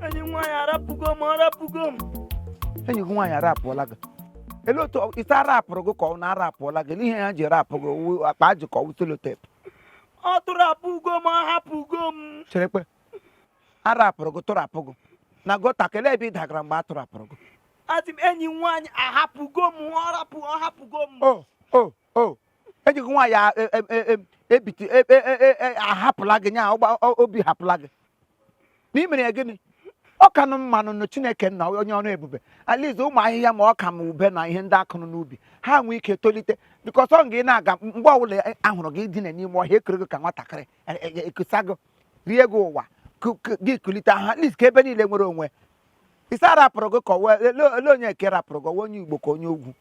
enyi m nwaanyị arapụgo m arapụgo m enyi gị nwaanyị arapụọla gị ele otu ọ- isi arapụrụ gị ka ọ na arapụọla gị ele ihe ya ji rapụ gị wụ- akpa ajị ka ọ wụ selotep ọ tụrapụgo m ahapụgo m cherekwe arapụrụ gị tụrapụ gị na gọta ka ele ebe ị dagara mgbe a tụrapụrụ gị asị m enyi m nwaanyị ahapụgo m ọ rapụ ọ hapụgo m o o o enyi gị nwaanyị a- e- e- e- e- ebiti e- e- e- e- ahapụla gị nya ọgba- o- obi hapụla gị na ị mere ya gịnị ọ ka nụ mmanụ nụ chineke nna onye ọrụ ebube at least ụmụ ahịhịa ma ọka ma ube na ihe ndị akụrụ n'ubi ha nwee ike tolite bikọs ọ gị na-aga mgbe ọbụla ahụrụ gị dina n'ime ọhịa ekere gị ka nwatakịrị ekusa gị rie gị ụwa gị kulite at least ka ebe niile nwere onwe isi arapụrụ gị ka ele onye nke rapụrụ gị onye igbo ka onye ugwu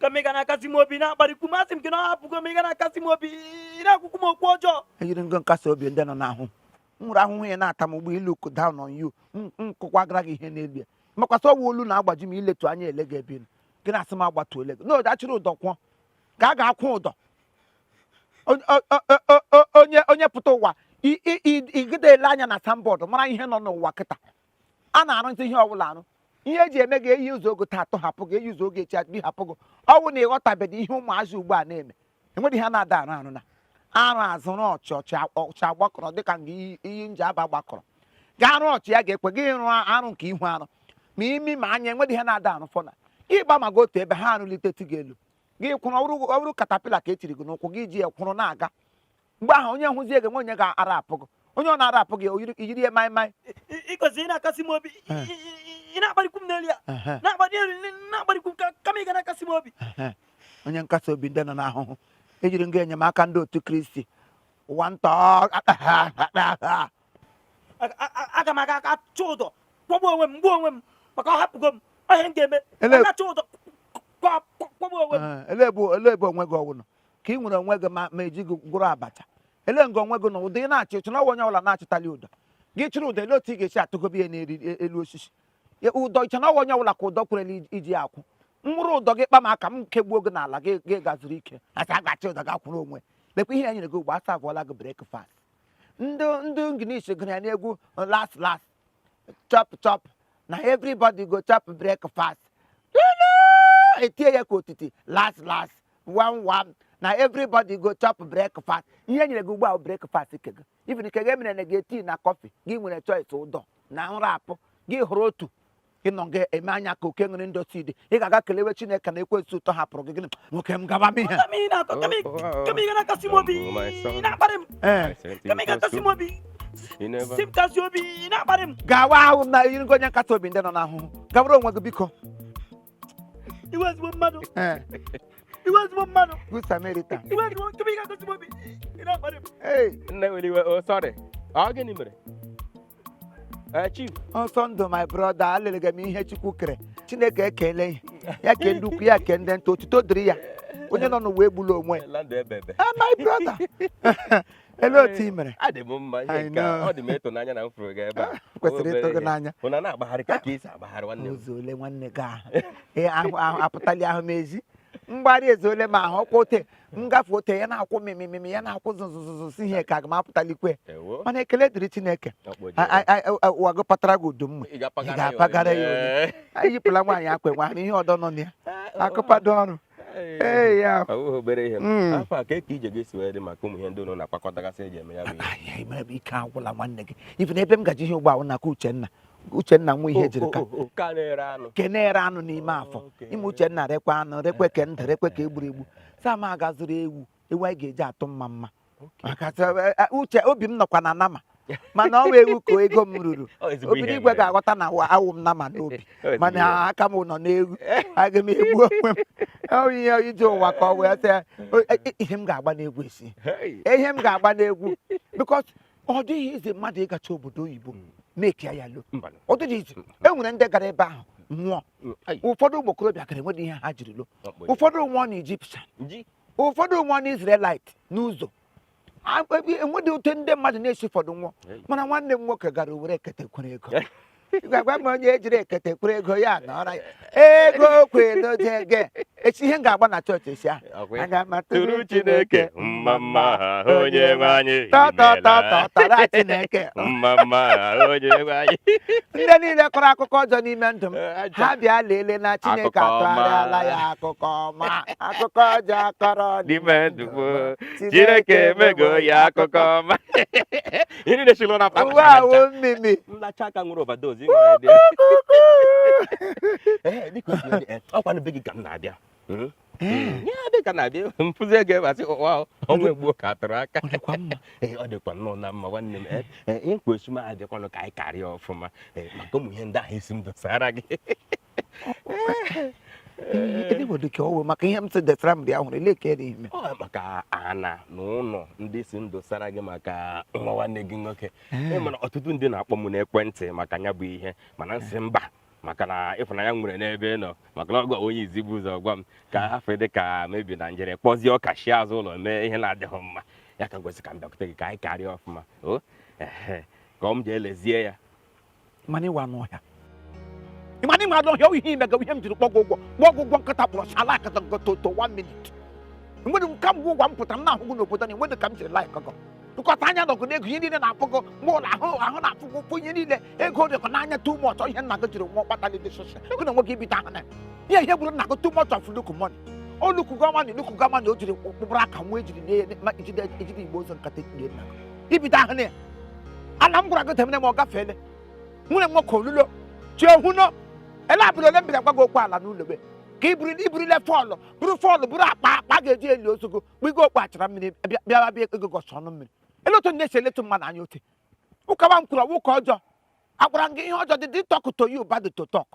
kama ị ga na-akasi m obi na-akparịkwu m asị m gị na ọ hapụgo m ị ga na-akasi m obi ị na-akwụkwụ m okwu ọjọọ i yiri nga nkasi obi ndị nọ n'ahụ m nwere ahụhụ ya na-ata m bụ ị look down on you nkụkwa gara gị ihe n'elu ya makwasị ọwa olu na-agbaji m iletu anya ele gị ebe gị na-asị m agbatu ele gị na ọ ga-achịrị ụdọ kwụọ ka a ga-akwụ ụdọ onye pụta ụwa igide ele anya na signboard mara ihe nọ n'ụwa kịta a na-arụzi ihe ọbụla arụ ihe eji eme gị e yuzuo gị taa atọhapụ gị e yuzuo gị echi adịghị hapụ gị ọ wụ na ịghọtabeghị ihe ụmụazị ugbu a na-eme enweghị ihe a na-ada arụ arụ na arụ azụ rụọ ọchị ọchị a- ọchị agbakọrọ dịka nga iyi iyi nji aba gbakọrọ ga arụ ọchị ya ga-ekwe gị ịrụ arụ nke ihu arụ ma imi ma anya enweghị ihe a na-ada arụ fọna gị gba ma gị otu ebe ha arụlite tie gị elu gị kwụrụ ọ bụrụ- ọ bụrụ katapila ka e tiri gị n'ụkwụ gị ji ya kwụrụ na-aga mgbe ahụ onye hụzie gị nwe onye ga-arapụ gị onye ọ na-arapụ gị iyiri ihe maị maị ịgozi ị na-akasị m obi ị na-akparịkwu m n'elu ya na-akparị elu na-akparịkwu m kama ị ga na-akasị m obi onye nkasi obi ndị nọ n'ahụhụ i yiri nga enyemaka ndị otu kristi ụwa ntọ aga m aga achị ụdọ kwụgbuo onwe m m gbuo onwe m maka ọ hapụgo m ihe m ga-eme achị ụdọ kwụgbuo onwe m ele ebe onwe gị ọwụnụ ka ị nwere onwe gị ma ma eji gị gwọrọ abacha ele nga onwe gị na ụdọ ị na-achị i che na ọwa onye ọbụla na-achịtali ụdọ gị chịrị ụdọ ele otu ị ga-esi atụgobe ya n'eri e- elu osisi ụdọ i che na ọwa onye ọbụla ka ụdọ kwerela iji- iji ya akwụ m wụrụ ụdọ gị kpa m aka m kegbuo gị n'ala gị gị gazuru ike asị a ga-achị ụdọ gị akwụrụ onwe lekwa ihe ya nyere gị ugbu a a savụọla gị brekfast ndị ndị English gụrụ ya n'egwu las las chop chop na everybody go chop breakfast etie ya ka otiti last last one one na everybody go chop breakfast ihe e nyere gị ugbu ahụ breakfast ke gị even ke gị emere na gị tii na kọfị gị ị nwere choice ụdọ na nrapụ gị ị hụrụ otu ị nọ gị eme anya ka oke nwere ndọtị dị ị ga-aga kelewe chineke na ekwensu tọhapụrụ gị gịnị nwoke m gaba m ihe Kama ị na-akọ, kama ị- kama ị ga na-akasi m obi, ị na-akparị m. ee Kama ị ga-akasi m obi, sị m kasi obi, ị na-akparị m. gawa ahụ na yiri gị onye nkasi obi ndị nọ n'ahụhụ gawara onwe gị biko Iwe ezigbo mmadụ, ee iwe ezigbo mmadụ, good samaritan iwe ezigbo- kama ị ga-akasi m obi, ị na-akparị m. ee Nne were iwe, oh sorry. Ọ gịnị mere? Eh, chief Ọsọndụ my brother alelege m ihe chukwu kere chineke ekele ihe ya ke ndị ukwu ya ke ndị nta otuto dịrị ya onye nọ n'ụwa egbula onwe ya. la ndụ ebebe Ah, my brother ele otu ị mere adị m mma I ihe nke a, know. ọ dị m ịtụnanya na m fụrụ gị ebe a kwesịrị ịtụ gị n'anya ahụ na na-agbagharị ka ka esi agbagharị nwanne m ụzọ ole nwanne gị ahụ Ee, ahụ ahụ apụtali ahụ m ezi mgbari eze ole ma ahụ ọkwa ote m gafe ote ya na-akwụ mimimimi ya na-akwụ zụzụzụzụ si ihe ka aga m apụtalikwe Ewo. mana ekele dịrị chineke Ọkpọ ji. A- a- a- a- ụwa gị patara gị udu mma Ị ga-apagara ị ga-apagara ya onye. Ee. anyị yipụla nwaanyị akwa e nwere ihe ọdọ nọ na ya akụpado ọrụ Ee. ee ya Ọ bụghị obere ihe Mm. afọ a ka eke ije gị si wee dị maka ụmụ ihe ndị ụlọ na-akpakọtagasị eji eme ya bụ ihe Anyị mere bụ ike agwụla nwanne gị ị fụ na ebe m gaji ihe ugbo ahụ n'aka uchenna uchenna nwa Ihejirika oh, oh, oh, ke na-ere anụ n'ime afọ ime uchenna rekwa anụ rekwa ke ndụ rekwa ke egburu egbu sị m aga zụrụ ewu ewu anyị ga-eji atụ mma mma maka eh, eh, uche obi m nọkwa na nama mana ọ wụ ewu ka ego m ruru obiri igwe ga-aghọta na awụ m nama n'obi mana aka m nọ n'ewu aga m egbu onwe m ihe ije ụwa ka ọ wee sị e, e, ihe m ga-agba n'egwu esi ihe m ga-agba n'egwu because ọ dịghị easy mmadụ ịgacha obodo oyibo mm. mekia ya lo ọ dịghị easy e nwere ndị gara ebe ahụ nwụọ mm, ụfọdụ ụmụ okorobịa gara enweghị ihe ha jiri lo ụfọdụ nwụọ na Egyptian ụfọdụ nwụọ na Israelite n'ụzọ enweghị otu ndị mmadụ na-esi ụfọdụ nwụọ mana nwanne m nwoke gara were ekete kwere ego gwagwa m onye ejiri ekete kwere ego ya nọrọ ya ego kwe n'oge ege echi ihe m ga-agba na chọọchị echi ahụ Ọkwa ya? aga m atụrụ tụrụ chineke mma mma ha onye nwe anyị tọtọtọtọtara chineke mma mma ha onye nwe anyị ndị niile kọrọ akụkọ ọjọọ n'ime ndụ m ha bịa lelee na chineke Akụkọ ọma. atụgharịala ya akụkọ ọma akụkọ ọjọọ akọrọ n'ime ndụ m chineke emego ya akụkọ ọma ihe niile si lụọ na akpa ụwa wụ mmimi nlacha aka nwere overdose ọkwa na be gị ka m na-abịa hmm? Hmm. ya dị ka na-abịa mfụzi ego ebe asị ụwa ọnwa egbuo ka atụrụ aka ọ dịkwa nnọọ na mma nwanne m eh, eh, ọkwa ị sị m bịakwanụ ka anyị karịa ọfụma eh, maka ụmụ ihe ndị ahụ ị sị m dosara gị ebe bụ dịka ọ wụ maka ihe m sị dosara m dị ahụrụ ele ka dị ime ọ maka ana na ụlọ ndị ị sị m dosara gị maka nwa nwanne gị nwoke ị mana ọtụtụ ndị na-akpọ m n'ekwentị maka ya bụ ihe mana m sị mba maka na ịfụnanya m nwere n'ebe ị nọ maka na ọ gịwa onye izi bu ụzọ gwa m ka afọ dị ka mebi na m jere kpọzie ọka shi azụ ụlọ mee ihe na-adịghị mma ya ka m ji sị ka m bịakwute gị ka anyị karịa ọfụma o ehe ka ọ m ji elezie ya mana ị wụ anụ ọhịa ị ma na ị wụ anụ ọhịa ihe imega ihe m jiri kpọ gụ ụgwọ kpọ gụ ụgwọ nkịta kpọrọ sala akata gototo one minute enwere m ka mgbe ụgwa m pụtara m na-ahụ gụ n'obodo na enwere ka m jiri like gụ tụkọta anya nọ gụ n'ego ihe niile na-afụ gụ mgbe ụlọ ahụ ahụ na-afụ gụ ụfụ ihe niile ego dị gụ n'anya too much ihe nna gị jiri nwụọ kpata dị sosha gụ na nwoke ibite ahụ na ihe ihe gburu nna gị too much of look money o luku gọmani luku gọmani o jiri kpụkpụrụ aka nwa ejiri na-ejide igbo ụzọ nkata ejide nna gị ibido ahụ na ya ala m gwara gị temene ma ọ gafeele nwanne m nwoke olulo chi ohu no ele abụrụ ole m biri agwa gị okwu ala n'ụlọ gị ka iburu iburile fọlụ bụrụ fọlụ bụrụ akpa akpa a ga-eji eli ozu gị kpugo okpu achara mmiri bịa- bịawa bịa ego gọsị ọnụ mmiri ele otu na-esi eletu mmadụ anya ote ụka wa m kwuru ọ wụ ụka ọjọọ agwara m gị ihe ọjọọ did I talk to you bad to talk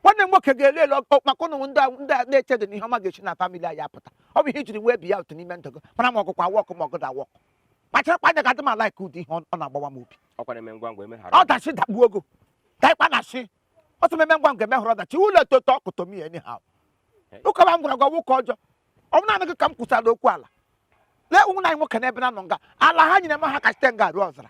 nwanne m nwoke ga-ele ele maka ụnụ ndị ndị a na-echedị na ihe ọma ga-esi na famili anyị apụta ọ bụ ihe ijiri wee bi ya otu n'ime ndụ gị mara ma ọgụkwa wọkụ ma ọgụ da wọkụ kpachara anya gị adị m a-like ụdị ihe ọ na-agbawa m obi ọdachi dakpuo ogo daịkpa na chi ọtụ meme ngwa ngwa emehụrụ ọdachi ụlọ e to talk to me anyhow ụka wa m gwara gị wụ ụka ọjọọ ọ bụ naanị gị ka m kwụsara okwu ala lee ụmụ anyị nwoke n'ebe na nọ nga ala ha nyere m ha ka site nga ruo ọzara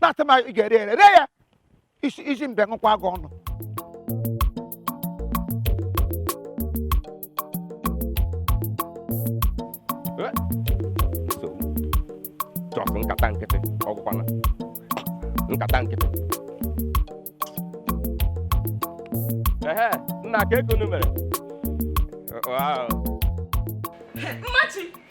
na-atụ ma ị ga-ere ere ree ya isi isi mbe ṅụkwa gị ọnụ nsogbu chọsụ nkata nkịtị ọ wụkwana nkata nkịtị ehe nna kee ka unu mere Wow. Mmachi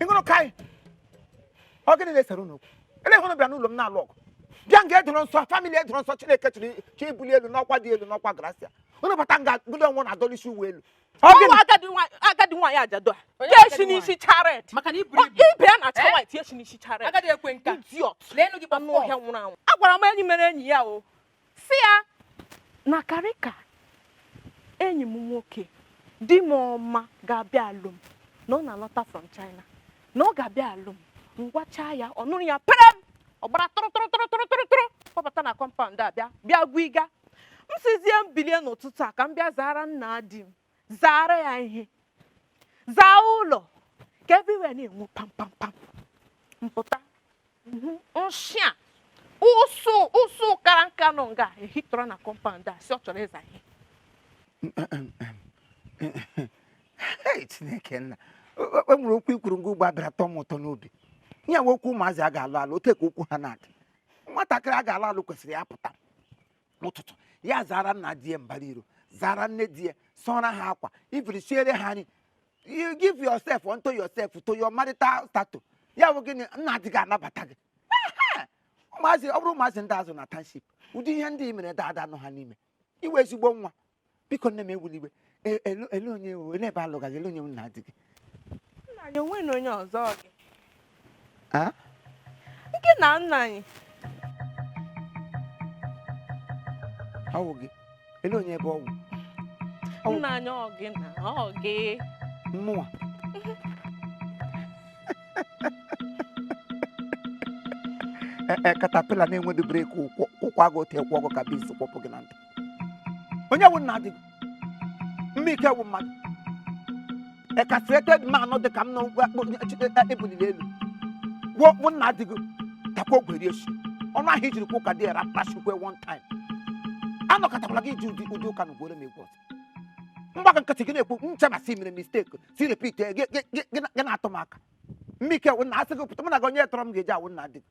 ị nụrụ ka anyị ọ gịnị na-esere unu okwu ele unu bịa n'ụlọ m na-alụ ọgụ bịa nga edoro nsọ famili edoro nsọ Chineke chiri chi bulie elu n'ọkwa dị elu n'ọkwa grasia unu bata nga gudo onwe na-adọlisi uwe elu Ọ ọ wụ gịnị? agadi nwa- agadi nwaanyị ajadu a Onye tee agadi shi n'isi charet maka na iburu Ọ- ibu ibe ya na acha Eh? white tie shi n'isi charet agadi ekwe nka idiot leenụ gị anụ kpọfọ ọhịa nwụrụ anwụ agwara m enyi mere enyi ya o si ya na karịka enyi m nwoke di m ọma ga-abịa alụ m na ọ na-alọta from China na ọ ga-abịa alụ m m gwachaa ya ọ nụrụ ya perem ọ gbara tụrụ tụrụ tụrụ tụrụ tụrụ tụrụ kpọbata na kọmpaụnd a bịa bịa gwiga m sizie m bilie n'ụtụtụ a ka m bịa zaara nna di m zaara ya ihe zaa ụlọ ka everywhere na-enwu pam pam pam m pụta nshị a ụsụ ụsụ kara nka nọ nga ehitọrọ na kọmpaụnd a si ọ chọrọ ịza ihe chineke nna e nwere okwu i kwuru nwa ugbu a bịara tọọ m ụtọ n'obi ya wụ okwu ụmụazị a ga-alụ alụ otu a ka okwu ha na-adị nwatakịrị a ga-alụ alụ kwesịrị ya pụta n'ụtụtụ ya zaara nna di ya mbara iro zaara nne di ya sụọra ha akwa even siere ha nri you give yourself unto yourself to your marital status ya wụ gịnị nna di gị anabata gị ụmụazị ọ bụrụ ụmụazị ndị a zụ na township ụdị ihe ndị i mere dada nọ ha n'ime iwe ezigbo nwa biko nne m ewule iwe E- ele ele onye ewu ele ebe a lụga gị ele onye nna di gị nna anyị o nwere onye ọzọ ọ gị Ah? nke na nna anyị ọ wụ gị ele onye ebe ọ wụ Ọ bụ- nna anyị ọ gị na ọ gị mmụọ E- e, katapila na-enwedu breki ụkwụ ụkwụ agụ otu ịkwụ ọgụ ka bizi kwụpụ gị na ntị onye wụ nna di gị mmụ ike wụ mmadụ a castrated man dị ka m na-ebuliri elu gwuo wụ nna di gị takwa ọgwụ rie shi ọnụ ahụ i jiri kwuo ụka dị era kpachikwe one time anọkatakwala gị iji ụdị ụdị ụka na ugworo m egwu ọzọ m gbaka nkịtị gị na-ekwu m cheba si i mere mistake si repeat gị na-atụ m aka mmụ ike wụ nna a sị gị pụta mụ na gị onye tọrọ m ga-eji awụ nna di gị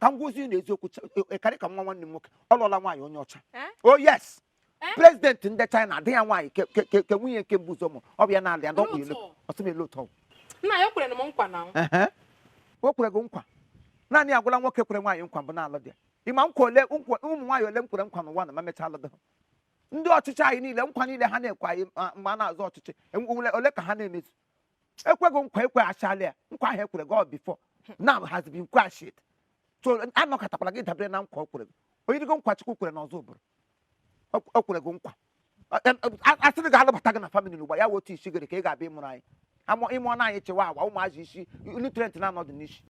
ka m gwazie unu eziokwu cha- e- karịka nwa nwanne m nwoke ọ lụọla nwaanyị onye ọcha Eh? oh yes Eh? prezidenti ndị China ada ya nwaanyị ke- ke- ke- ke nwunye nke mbụ ụzọ mụ ọ bịa na-alị ya dọkpụ elu Otu. ọsị m elu ụtọ nna ya kwere m nkwa na Ehe. o kwere gị nkwa naanị ya gwụla nwoke kwere nwaanyị nkwa mbụ na-alụ dị ya ị ma nkwa ole nkwa ụmụ nwaanyị ole m kwere nkwa n'ụwa na ma mechaa alụdị ha ndị ọchịchị anyị niile nkwa niile ha na-ekwe anyị ma- mgbe a na-azọ ọchịchị enwe- ole ole ka ha na-emezu e kwe gị nkwa e kwechaala ya nkwa ahụ e kwere gị before now has been quashed so anọkatakwala gị dabere na nkwa o kwere gị o yiri gị nkwa chukwu kwere n'Ozubulu o kwere gị nkwa a sịrị gị a lụbata gị na famili ugbu a ya wụ otu isi gị rị ka ị ga-abịa ịmụrụ anyị ị mụọra anyị chihuahua ụmụazị isi nutrient na-anọdụ n'isi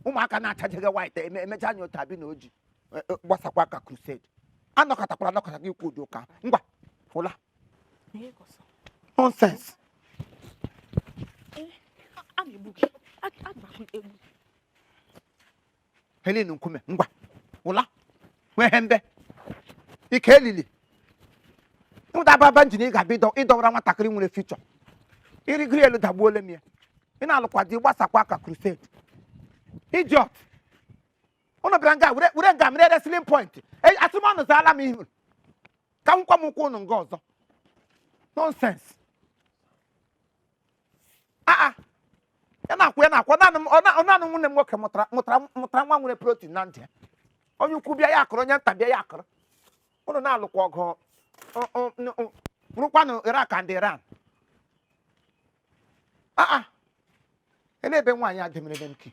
ụmụaka na-achajeghị white eme- emecha anya ụta bi na oji e- e, gbasakwa ka crusade anọkatakwala anọkata gị ikwu ụdị ụka ahụ. ngwa ụla Ihe kọsọ. nonsense A na-egbu gị. A a na-egbu egbu. helen nkume ngwa ụla nwee ihe ndị ike elili ịmụta ababa njin ị ga-abịa ịdọ- ịdọwara nwatakịrị nwere future ịrịgoro elu dagbuole m ya ị na-alụkwa di gbasakwa aka crusade idiot ụnụ bịara nga were nga mere wrestling point E- asị m ụnụ zaala m ihu ka m hụkwa m ụkwụ ụnụ nga ọzọ nonsense aa ya na-akwụ ya na-akwụ naanị m- ọ na- ọ naanị nwanne m nwoke mụtara nwa nwere protein na ntị ya onye ukwu bịa ya akụrụ onye nta bịa ya akụrụ ụnụ na-alụkwa ọgụ ọ- ọ- n- ọ wụrụkwanụ Iraq and Iran aa ele ebe nwaanyị a demere m ki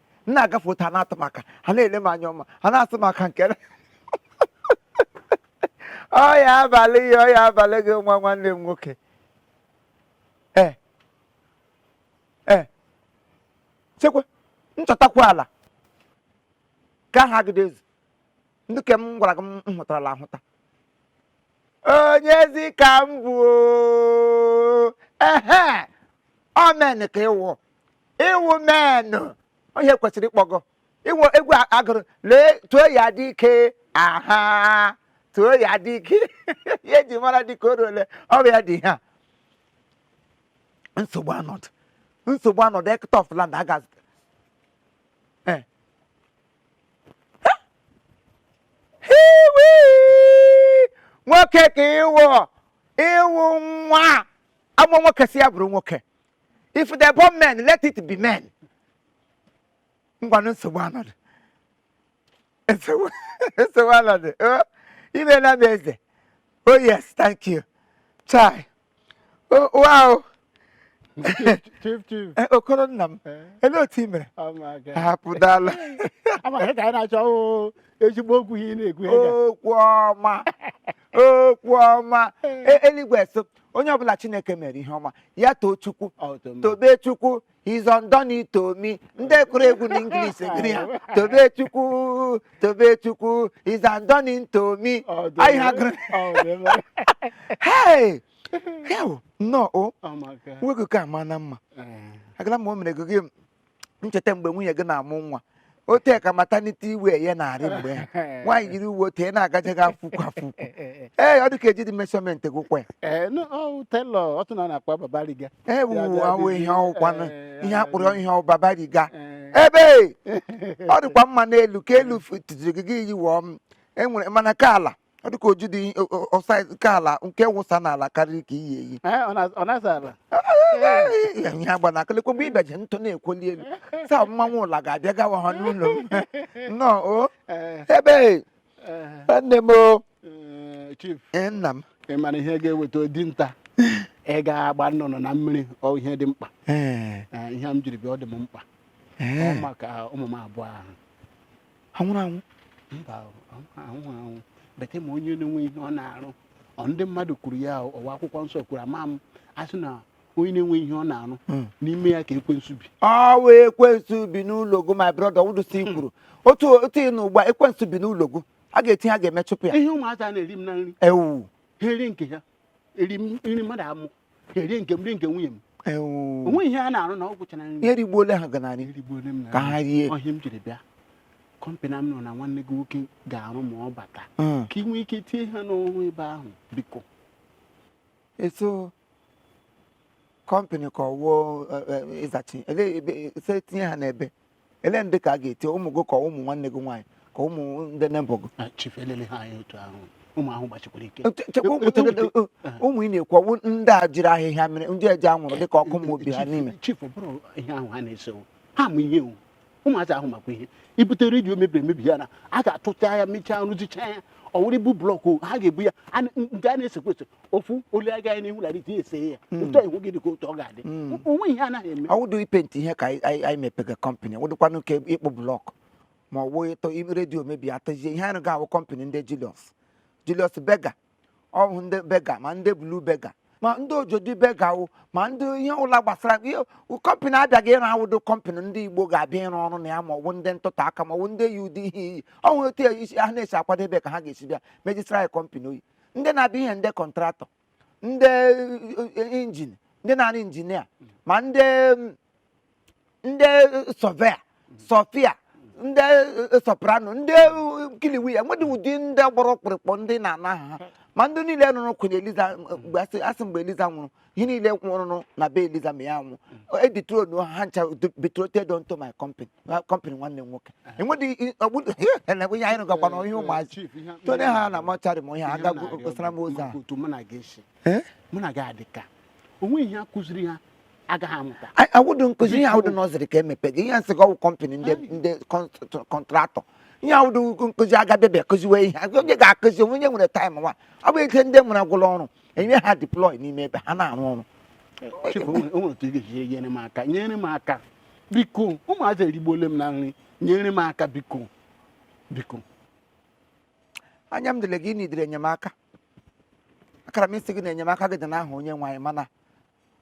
m na-agafe otu ha na-atụ m aka ha na-ele m anya ọma ha na-atụ m aka nke ọya abalị ya ọya abalị gị nwa nwanne m nwoke ee ee chekwa nchọtakwa ala ka aha agide ezu ndị ke m gwara gị m hụtarala ahụta onyezi ka m bụ ehe ọ men ka ị wụ ị wụ men onye kwesịrị ịkpọ gị wụ egwu a- agụrụ lee tụọ ya dike aha tụọ ya dike ihe eji mara dike eruole ọ bụ ya dị ihe a nsogbu anọdụ nsogbu anọdụ hectare of land aga Eh. Hiwi! nwoke ka ị wụ ị wụ nwa a mụọ nwoke sị ya bụrụ nwoke if they born men let it be men ngwanụ nsogbu anọdụ nsogbu anọdụ i meela m eze oh yes thank you chai oh, wow eh, okoro nna m eh? ele otu i mere hapụ dala ezigbo okwu ihe na-ekwu okwu ọma okwu ọma e- eluigwe so onye ọbụla chineke mere ihe ọma ya too chukwu tobe chukwu he has done it to me ndị kụrụ egwu na English gụrụ ya tobe chukwu tobe chukwu he has done it to me anyị ha gụrụ hei heo nnọọ o nwoke ka ama na mma agala ma o mere gị ncheta mgbe nwunye gị na-amụ nwa otu a ka maternity uwe ya na-arị mgbe ya nwaanyị yiri uwe otu ya na-agaje gị afụkwu afụkwu ee ọ dị ka ejidi measurement gị kwaa ya ee no, ọ tailor ọtụ na ọ na-akpa babariga ee wuwu awụ ihe ọkwanụ ihe akpụrụ ihe ọ babariga ebe ọ dịkwa mma n'elu ka elu tụziri gị gị yiwọ m enwere mana ka ala ọ dịka oju dị ọsa nke ala nke wụsa n'ala karịrị nke i yi eyi Eh, ọ na- ọ na-asa ala ihe agba na akịlịkwa mgbe ịbaji ntụ na-ekwoli elu saa mmanwụ ụla ga-abịa gawa ha n'ụlọ m. nnọọ o Eh, ebe eh, nne m o eh, chief ee, nna m ị mara ihe ga-eweta dinta ịga agba nnụnụ na mmiri ọ ihe dị mkpa Ee, Eh, ihe m jiri bịa ọ dị m mkpa ee. ọ maka ụmụ m abụọ ahụ ha nwụrụ anwụ mba anwụ anwụ bete ma onye na-enwe ihe ọ na-arụ ọ ndị mmadụ kwuru ya ọ wụ akwụkwọ nsọ kwuru ama m a sị na onye na-enwe ihe ọ na-arụ hmm. n'ime ya ka ekwensu bi ọ wụ ekwensu bi n'ụlọ gị my brother wụdụsi kwuru otu otu ị nọ ugbu a ekwensu bi n'ụlọ gị a ga-etinye a ga-emechụpụ ya ihe ụmụaka na-eri m na nri ewu ha erie nke ha eri m- nri mmadụ amụ ha erie nke m rie nke nwunye m Ewu. o nweghị ihe a na-arụ na ọ gwụchara nri ihe rigbuola ha ganarị erigbuole m na ka ha rie ọ ihe m jiri bịa kọmpanị a m nụ na nwanne gị nwoke ga-arụ ma ọ bata Mm. ka ị nwee ike tie ha n'ọrụ ebe ahụ biko eso kọmpanị ka ọ wụ o ịzachi Ele- ebe- ese tinye ha n'ebe ele ndị ka a ga-eti ụmụ gị ka ụmụ nwanne gị nwaanyị ka ụmụ ndị nebọ gị ụmụ ị na-ekwu ọ wụ ndị e jiri ahịhịa mere ndị e ji anwụrụ dịka ọkụ ma obi ha n'ime ụmụazị ahụ makwa ihe i bute redio mebiri emebi ya na ha ga-atụta ya mechaa rụzicha ya ọ wụrụ ibu blọkụ ha ga-ebu ya nke a na-esekwa ese ofu olu agaghị n'ihu lara iti ese ya hmm. otu ihu gị dịka otu ọ ga-adị hmm. o nwe ihe ha naghị eme ọwụdụ ipenti ihe ka anyị mepega kọmpanị wụdụkwanụ nke ịkpụ blọk ma ọ wụghị ịtọ redio mebi atọzie ihe anyị ga-arụ kọmpanị ndị Julius Julius Berger ọ bụ ndị Berger ma ndị Blue Berger ma ndị Ojodu Berger wụ ma ndị ihe ụla gbasara kọmpanị abịaghị ịrụ awụdụ kọmpanị ndị Igbo ga-abịa ịrụ ọrụ na ya ma ọ bụ ndị ntụtụ aka ma ọ bụ ndị yi ụdị ihe i yi o nwere otu isi ha na-esi akwadebe ka ha ga-esi bịa rejista ya kọmpanị oil ndị na-abịa ihe ndị kọntraktọ ndị eh, injin ndị na-arụ injinia ma ndị ndị sọvea Sophia ndị eh, soprano ndị eh, kiliwi ya nwedị ụdị ndị gbara ọkpụrụkpụ ndị na-ana ha ma ndị niile nụrụ Queen Eliza mgbe a sị mgbe Eliza nwụrụ ihe niile rụrụ na be Eliza ma ya nwụ editro na ha ncha betrothed onto my company my company nwanne m nwoke enwedị ọgbụdụ na-egwe ihe anyị rụgakwa na ihe ụmụazị Chief, ihe a- tone ha na mọcharị m ihe ha ihe m agagwu na-arịọ kpesara m bụ ozi a maka otu mụ na gị si Eh? mụ na gị adị ka o nwe ihe a kụziri ha agaghị amụta Anyị- awụdụ nkụzi ihe awụdụ nursery ka e mepega ihe m sị gị ọ wụ kọmpanị ndị ndị kọnt- kọntraktọ ihe awụdụ nkụzi a ga-abịa bịa kụziwe ihe onye ga-akụzi o nwe onye nwere taịm nwa ọ bụ ike ndị nwere agwụla ọrụ enye ha deploy n'ime ebe ha na-arụ ọrụ nyere m aka nyere m aka biko ụmụazị erigbuole m na nri nyere m aka biko biko anya m dịle gị na idere enyemaka akara m ịsị gị na enyemaka gị dị n'aha onye nwe anyị mana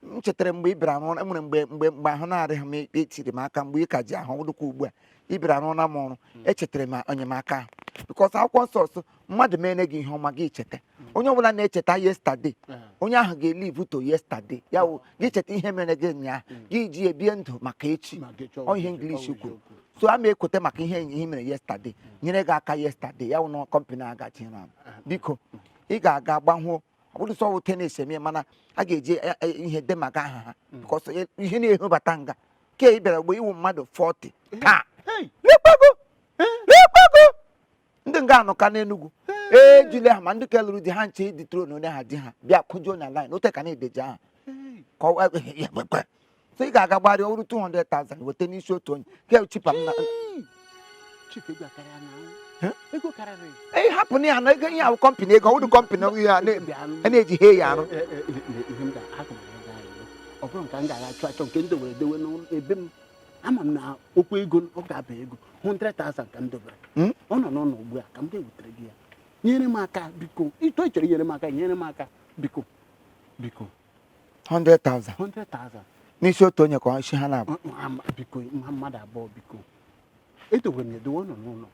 m chetara mgbe ị bịara rụọ nwere mgbe mgbe mgbe ahụ na-adịghị m etiri m aka mgbe ị ka ji ahụ dịkwa ugbu a ị bịara rụọla m ọrụ hmm. echetara m enyemaka ahụ because akwụkwọ nsọ sị mmadụ meere gị ihe ọma gị cheta hmm. onye ọbụla na-echeta yesterday hmm. onye ahụ ga-elive to yesterday ya wụ gị cheta ihe mere gị ụnyaahụ gị ji ebie ndụ maka echi ọ ihe English kwuru so a ma ekweta maka ihe ihe mere yesterday nyere gị aka yesterday ya wụ na kọmpanị agachi na ah. biko ị ga-aga gbanwuo ọ bụrụ sọ wụ tenis eme mana a ga-eji eh, eh, ihe de maka aha ha Mm. because ihe na-ehobata nga ke ị bịara mgbe ị wụ mmadụ 40 taa Hey! n'ekpego n'ekpego ndị nga anọ ka n'Enugwu ejule ha ma ndị ka lụrụ di ha nche dị tro na onye ha di ha bịa kwụjuo na line ote ka na-edeji aha Hey! ka ọ- so ị ga-aga gbarịa ọrụ 200,000 weta n'isi otu onye ka cheaper m na hapụ na ya na ego ihe ahụ kọmpanị ego ọ wụdụ kọmpanị ọgwụ ya na-eji he ya arụ ọ bụrụ nke m ga-aga achụ achọ nke m dowere dowe n'ebe m ama m na okwu ego ọ ga-aba ego 100,000 ka m dobere hmm? ọ nọ n'ụlọ ugbu a ka m ga-ewetara gị ya nyere m aka biko ịtọ ichere nyere m aka nyere m aka biko biko 100,000 100,000 n'isi otu onye ka isi ha na-abụ biko ha mmadụ abụọ biko edowere m edowe ọ nọ n'ụlọ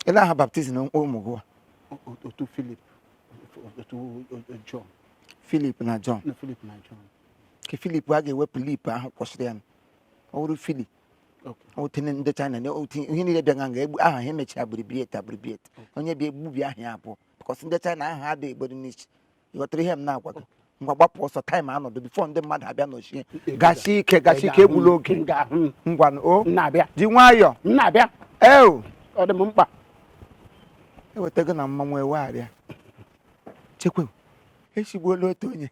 ele aha baptizim ụmụ gị otu Filip otu Jọn Filip na Jọn na Filip na Jọn ka Filip a ga-ewepụ lip ahụ kwụsịrị ya ọ wụrụ Filip o tinye ndị China na o tinye ihe niile bịa nga nga egbu aha ha emechara abbreviate abbreviate onye bịa egbubi aha ya abụọ because ndị China aha ha dị egboro n'isi ịghọtara ihe m na-agwa gị ngwa gbapụ ọsọ time anọdụ before ndị mmadụ abịa nọchie gasi ike gasi ike egbula oge ngwa o ji nwayọ eo ọ dị m mkpa eweta gị na mmanwụ ewegharịa chekwe esigbuola otu onye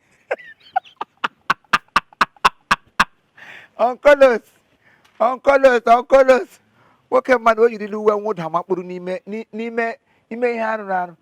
onkolos onkolos onkolos nwoke mmadụ o yirila uwe mwụda makpuru n'ime n'ime ime ihe arụrụ arụ